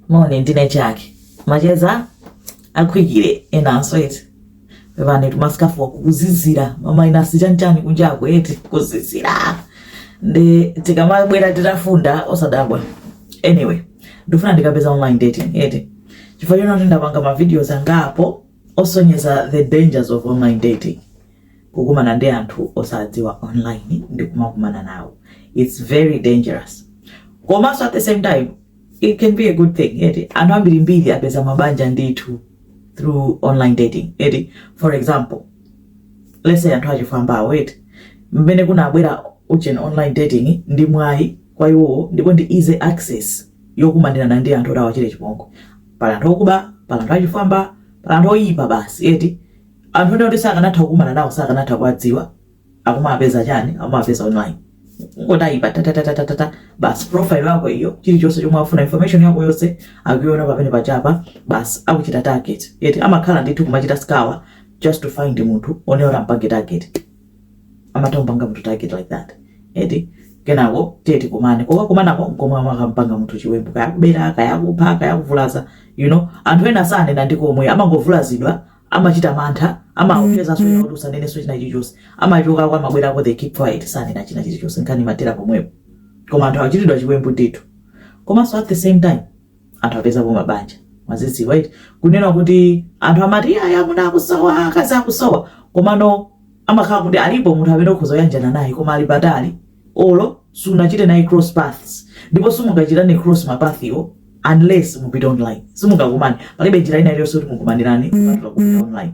moni ndine chake macheza akhwikire enanso eti pepani timasikafa wa kuzizira mamainasi chanchani kunjako eti kuzizira nde tikamabwera titafunda osadabwa anyway ndifuna ndikambe za online dating eti chifukwa chonoti ndapanga mavideos angapo osonyeza the dangers of online dating kukumana ndi anthu osawadziwa online ndi kumakumana nawo its very dangerous komanso at the same time it can be a good thing eti anthu ambirimbiri apeza mabanja ndithu through online dating eti for example let's say anthu achifwamba eti mmene kunabwera ujeni online dating ndi mwayi kwa iwowo ndipo ndi easy access yokumanirana ndi anthu oti awachite chipongwe pala anthu okuba pala anthu achifwamba pala anthu oyipa basi eti Anthu ena oti sakanatha kukumana nawo sakanatha kuwadziwa akumawapeza chani akumawapeza online ungotayipa tatatatatata basi profile yako iyo chilichonse chomwe afuna information yako yonse akuiona pamenepo chapa basi akuchita target eti amakhala ndithu kumachita scour just to find munthu woneti mpange target amatha kumpanga munthu target like that eti kenako tiye tikumane kokakumanako nkomwe amakampanga munthu chiwembu kaya kubera kaya kupha kaya kuvulaza you know anthu ena sanena ndikomwe amangovulazidwa amachita mantha amaopsezedwa mwina kuti usanenenso china chilichonse amachokako amabwerako they keep quiet sanena china chilichonse nkhani imathera pomwepo koma anthu achitidwa chiwembu ndithu komanso at the same time anthu apezapo mabanja mukudziwa eti kunena kuti anthu amati "Aya, amuna akusowa akazi akusowa komano amakhala kuti alipo munthu amene ukhoza kuyanjana naye koma ali patali olo sunachite naye cross paths ndipo simungachitane cross ma path-wo unless mupite online simungakumane palibe njira ina iliyonse kuti mukumanirane kupatula kupita online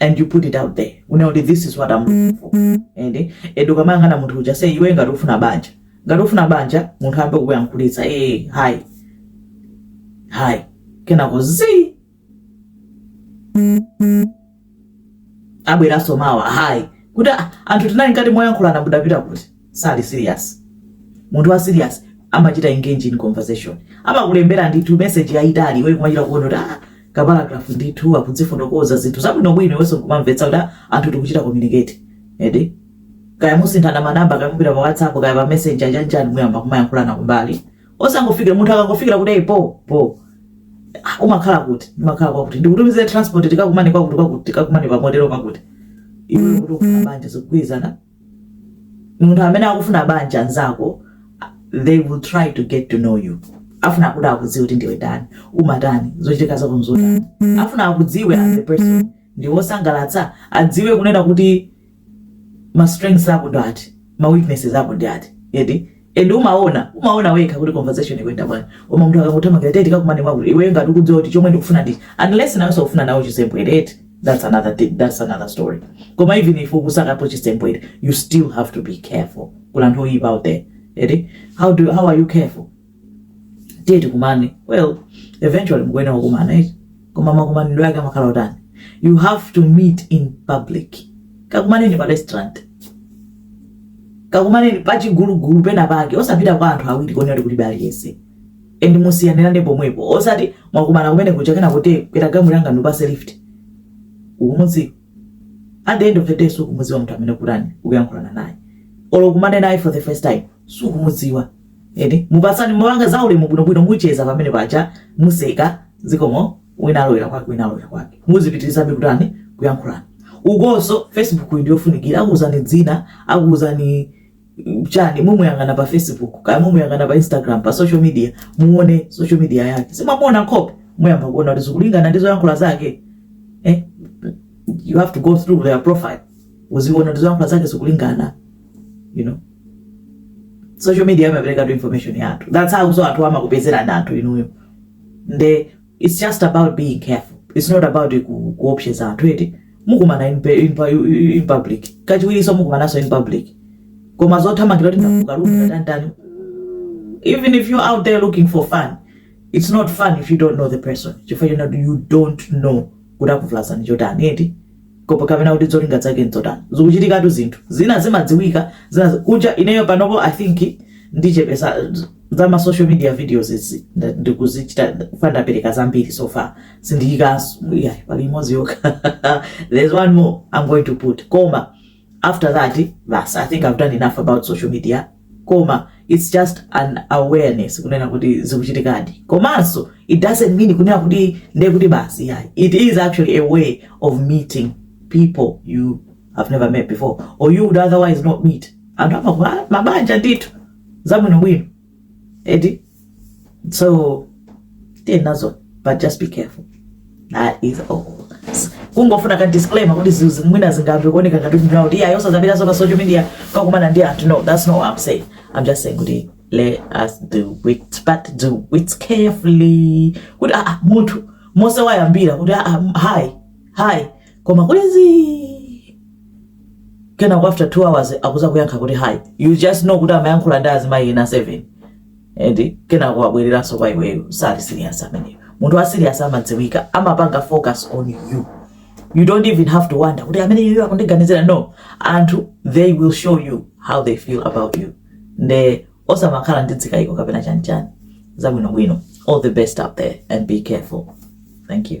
and you put it out there kunena kuti this is what I'm looking for and ende ukamayang'ana munthu uja say iwe ngati ufuna banja ngati ufuna banja munthu ayambe kukuyankhulitsa ee eh, hi hi kenako zi abweranso mawa hi kuti ah, anthu tinali ngati moyankhulana mudapita kuti sali serious munthu wa serious amachita engage in conversation amakulembera ndithu message yayitali iwe kumachita kuona kuti ah kaparagraph ndithu akudzifotokoza zinthu zabwinobwino iwenso kumamvetsa kuti ah, anthu tikuchita communicate ende kaya musinthana manamba kaya mupita pa whatsapp kaya pa messenger chanichani muyamba kumayankhulana kumbali osangofikira munthu akangofikira kuti "Hey, po po Ah, umakhala kuti ndimakhala kwakuti ndikutumizire transport tikakumane kwakuti kwakuti tikakumane pa motelo kwakuti iwe kuti ufuna banja zikugwirizana munthu amene akufuna banja nzako they will try to get to know you afuna kuti akudziwe kuti ndiwe ndani umatani zochitika zako nzotani afuna akudziwe as a person ndiwosangalatsa adziwe kunena kuti ma strengths ako ndi ati ma weaknesses ako ndi ati eti And umaona, umaona wekha kuti conversation ikwenda bwana. Koma munthu akakuthamangira tiye tikakumane mwakuti iwe ngati ukudziwa kuti chomwe ndikufuna ndi unless naweso ukufuna nawo chisembwere eti. That's another thing, that's another story. Koma even if ukusaka chisembwere, you still have to be careful. Kuli anthu oyipa out there. Eti, how do how are you careful? Tiye tikumane. Well, eventually mkuona wakumana eti. koma makumanidwe ake amakhala otani you have to meet in public kakumaneni pa restaurant kakumaneni pachigulugulu pena pake osapita kwa anthu awiri konena kuti palibe aliyense and musiyanirane pomwepo osati mwakumana kumene kuja kena kuti kwera galimoto yanga ndikupase lift ukumudziwa at the end of the day sukumudziwa munthu amene ukutani ukuyankhulana naye olo kukumana naye for the first time sukumudziwa eti mupatsana malonje zaulemu bwinobwino mucheza pamenepaja museka zikomo wina alowera kwake wina alowera kwake muzipitirizabe kutani kuyankhulana ukonso facebook ija ndiyofunikira akuuzani dzina akuuzani mm, chani mumuyang'ana pa facebook kaya mumuyang'ana pa instagram pa social media muone social media yake simwamuona nkhope muyamba kuona kuti zikulingana ndi zoyankhula zake eh? you have to go through their profile uziona kuti zoyankhula zake zikulingana you know social media imaperekatu information yathu that's how so anthu amakupezera anthu inuyo nde it's just about being careful it's not about ku- kuopseza anthu eti mukumana in, pe- in, pu- in public kachiwiriso mukumananso in public koma zothamangira kuti ndakukonda tatanitani even if you're out there looking for fun it's not fun if you don't know the person chifukwa china you don't know kuti akuvulazani chotani eti Kapo kapena kuti zolinga zake ndzotani? Zikuchitikatu zinthu. Zina zimadziwika, zina kuja ineyo panopo I think ndichepesa za ma social media videos izi ndikuzichita chifukwa ndapereka zambiri so far sindiyikanso iyayi pali imodzi yokha there's one more I'm going to put koma after that basi i think i've done enough about social media koma it's just an awareness kunena kuti zikuchitikadi komanso it doesn't mean kunena kuti nde kuti basi iyayi it is actually a way of meeting people you have never met before or you would otherwise not meet anthu amamanga mabanja ndithu zabwinobwino eti so tiyeni nazo but just be careful that is all kungofuna ka disclaimer kuti izi mwina zingayambe kuoneka ngati ndanena kuti iyayi osazapitaso pa social media kukakumana ndi anthu no that's not what i'm saying i'm just saying kuti let us do it but do it carefully kuti aa munthu momwe wayambira kuti aa hi hi koma kuti zii kenako after 2 hours akuza kuyankha kuti hi you just know kuti amayankhula ndi azimayi ena 7 eti kenako wabwereranso kwa iweyo sali serious ameneyo munthu wa serious amadziwika amapanga focus on you you don't even have to wonder kuti ameneyu akundiganizira no anthu they will show you how they feel about you nde osamakhala ndi dzikayiko kapena chanichani zabwinobwino all the best out there and be careful thank you